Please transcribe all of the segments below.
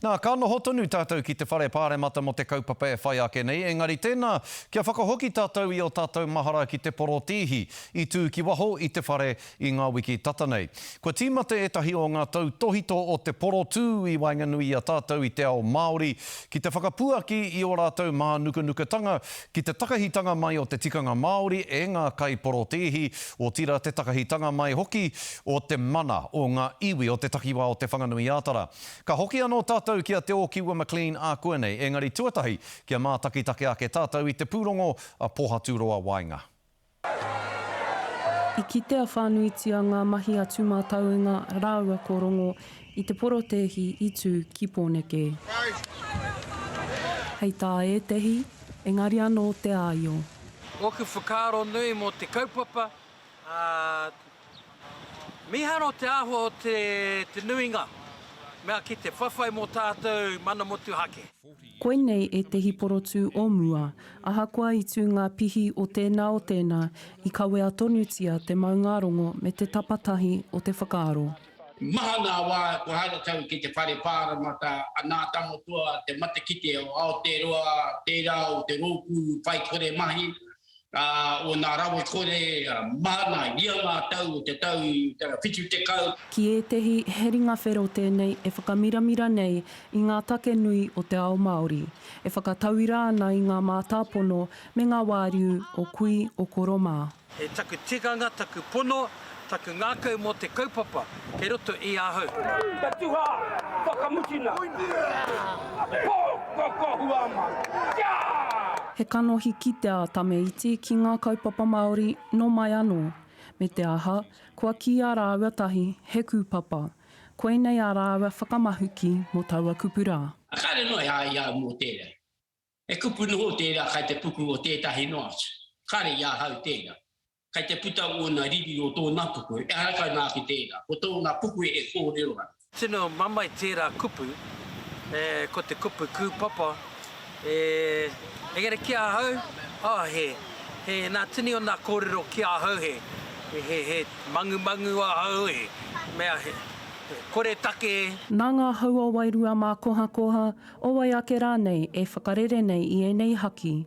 Nā, ka noho tonu tātou ki te Whare Pāremata mō te kaupapa e whai ake nei, engari tēnā, kia whakahoki tātou i ō tātou mahara ki te porotēhi i tū ki waho i te whare i ngā wiki tata nei. Kua tīmata ētahi o ngā tautōhito o te porotū i waenganui i a tātou i te ao Māori ki te whakapuaki i ō rātou mānukanukatanga ki te takahitanga mai o te tikanga Māori e ngā kaiporotēhi, otirā te takahitanga mai hoki o te mana o ngā iwi o te takiwā o Te Whanganui-ā-Tara. Ka hoki anō tātou ki a Te Ōkiwa McLean ākuanei, engari tuatahi kia mātakitaki ake tātou i te pūrongo a Pōhaturoa Waenga. I kitea whānuitia ngā mahi a Tūmātauenga rāua ko Rongo i te porotēhi i tū ki Pōneke. Hei tā ētehi, engari anō te āio. Ōku whakaaro nui mō te kaupapa Ā, mīharo te āhua o te nuinga mea ki te whawhai mō tātou mana motuhake. Koinei ētehi porotū o mua. Ahakoa i tū ngā pihi o tēnā o tēnā, i kawea tonutia te maungārongo me te tapatahi o te whakaaro. Maha ngā wā kua haere tau ki te whare pāremata, nā Tangotoa, te matakite o Aotearoa, tērā o te rōpū whaikore mahi, ā, o nā rawe kore, ā, māna i ia ngā tau o te tau 70. Ki ētehi, he ringa whero tēnei e whakamiramira nei i ngā take nui o te ao Māori, e whakatauira ana i ngā mātāpono me ngā wāriu o kui, o koro mā. He taku tikanga, taku pono. Taku ngākau mō te kaupapa kei roto i ahau. Te tuha whakamutunga. He kanohi kite a Tame Iti ki ngā kaupapa Māori nō mai anō. Me te aha, kua kīia rāua tahi he kūpapa. Koinei ā rāua whakamahuki mō taua kupu rā. Kāre noa e ai au mō tērā. He kupu noho tērā kai te puku o tētahi noa atu. Kāre i ahau tērā. Kai te puta ōna riri o tōna kupu, ehara kai nā ki tērā, ko tōna kupu e kōrero ana. Tino mamae tērā kupu, ko te kupu kūpapa, engari ki ahau, oh, he, he nā tini o nā kōrero ki ahau, he, he, he mangumangu ahau, he mea, he, he koretake. Nā ngā hau o Wairua mā Kohakoha, o wai ake rānei, e whakarere nei i ēnei haki.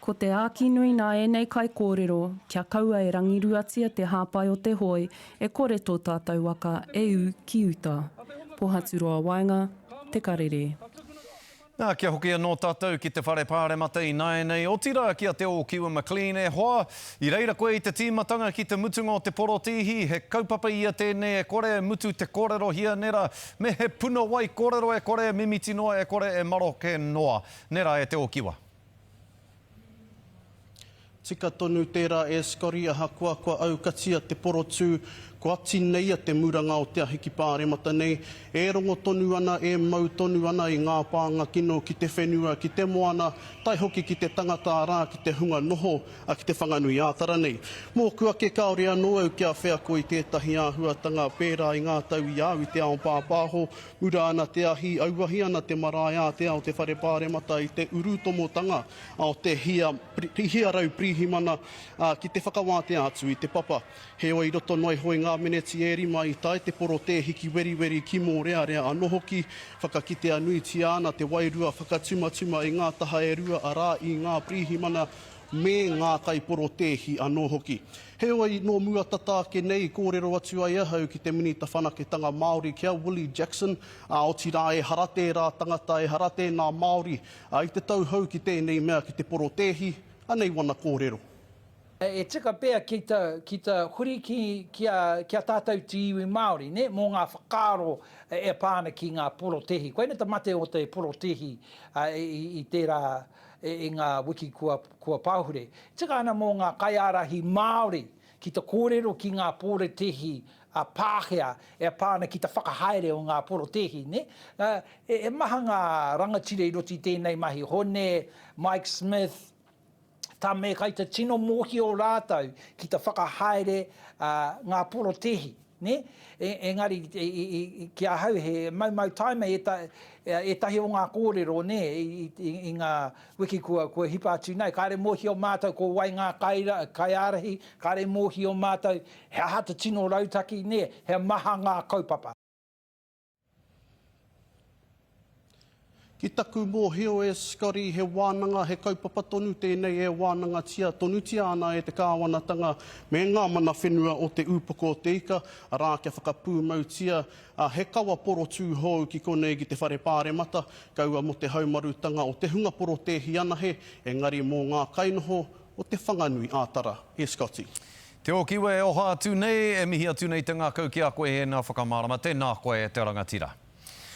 Ko te āki nui nā ēnei kaikōrero, kia kaua e rangiruatia te hāpai o te hoe e kore tō tātou waka e ū ki uta. Pohaturoa Waenga, Te Karere. Nā, kia hoki anō tātou ki te Whare Pāremata ināianei, otirā ki a Te Ōkiwa McLean. E hoa, i reira koe i te tīmatanga ki te mutunga o te porotīhi, he kaupapa ia tēnei e kore e mutu te kōrero hia nera, me he puna wai kōrero e kore e mimiti noa e kore e maroke noa. Nera e Te Ōkiwa. Tika tonu tērā e Scotty ahakoa kua aukatia te porotū, koati nei a Te Muranga o Te Ahiki Pāremata nei, e rongo tonu ana, e mau tonu ana i ngā pānga kino ki te whenua, ki te moana, tae hoki ki te tangata arā, ki te hunga noho, ā, ki te Whanganui-ā-Tara nei. Mōku ake kāore anō au kia wheako i tētahi āhuatanga pērā i ngā tau i au i te ao pāpāho, Ura ana te ahi, auahi ana te marae ātea o te Whare Pāremata i te urutomotanga o te hia, hia rau pirihimana ki te whakawātea atu i te papa. Heoi, i roto noa iho i ngā meneti e rima i tae te porotēhiki weriweri ki Mōrearea anō hoki, whakakitea nuitia ana te wairua whakatumatuma i ngā taha e rua arā i ngā pirihimana me ngā kaiporotēhi anō hoki. Heoi, nō mua tata ake nei i kōrero atu ai ahau ki te Minita Whanaketanga Māori, ki a Willie Jackson, ā, otirā ehara tērā tangata, ehara tēnā Māori, ā, i te tauhou ki tēnei mea, ki te porotēhi, anei wana kōrero. E tika pea ki ta, ki ta huri ki, ki a, ki a tātou te iwi Māori, nē, mō ngā whakaaro e pā ana ki ngā porotēhi. Koinei te mate o te porotēhi i, i tērā, i ngā wiki kua pahure, tika ana mō ngā kaiārahi Māori ki te kōrero ki ngā porotēhi a Pākehā e pā ana ki te whakahaere o ngā porotēhi, nē? He maha ngā rangatira i roto i tēnei mahi, Hone, Mike Smith, Tame, kai te tino mōhio rātou ki te whakahaere ngā porotēhi. Nē? Engari, ki ahau he maumau taima ētahi o ngā kōrero, nē, i ngā wiki kua hipa atu nei. Kāre e mōhio mātou ko wai ngā kaiārahi, kāre e mōhio mātou he aha te tino rautaki, nē, he maha ngā kaupapa. Ki taku mōhio e Scotty, he wānanga, he kaupapa tonu tēnei e wānangatia tonutia ana e te kāwanatanga me ngā mana whenua o te Upoko o te Ika, arā, kia whakapūmautia he kawa porotū hou ki konei ki te Whare Pāremata, kaua mō te haumarutanga o te hunga porotēhi anahe, engari mō ngā kainoho o Te Whanganui-ā-Tara. E Scotty. Te Okiwe, e oha atu nei, e mihi atu nei te ngakau ki a koe ēnā whakamārama, tēnā koe te rangatira.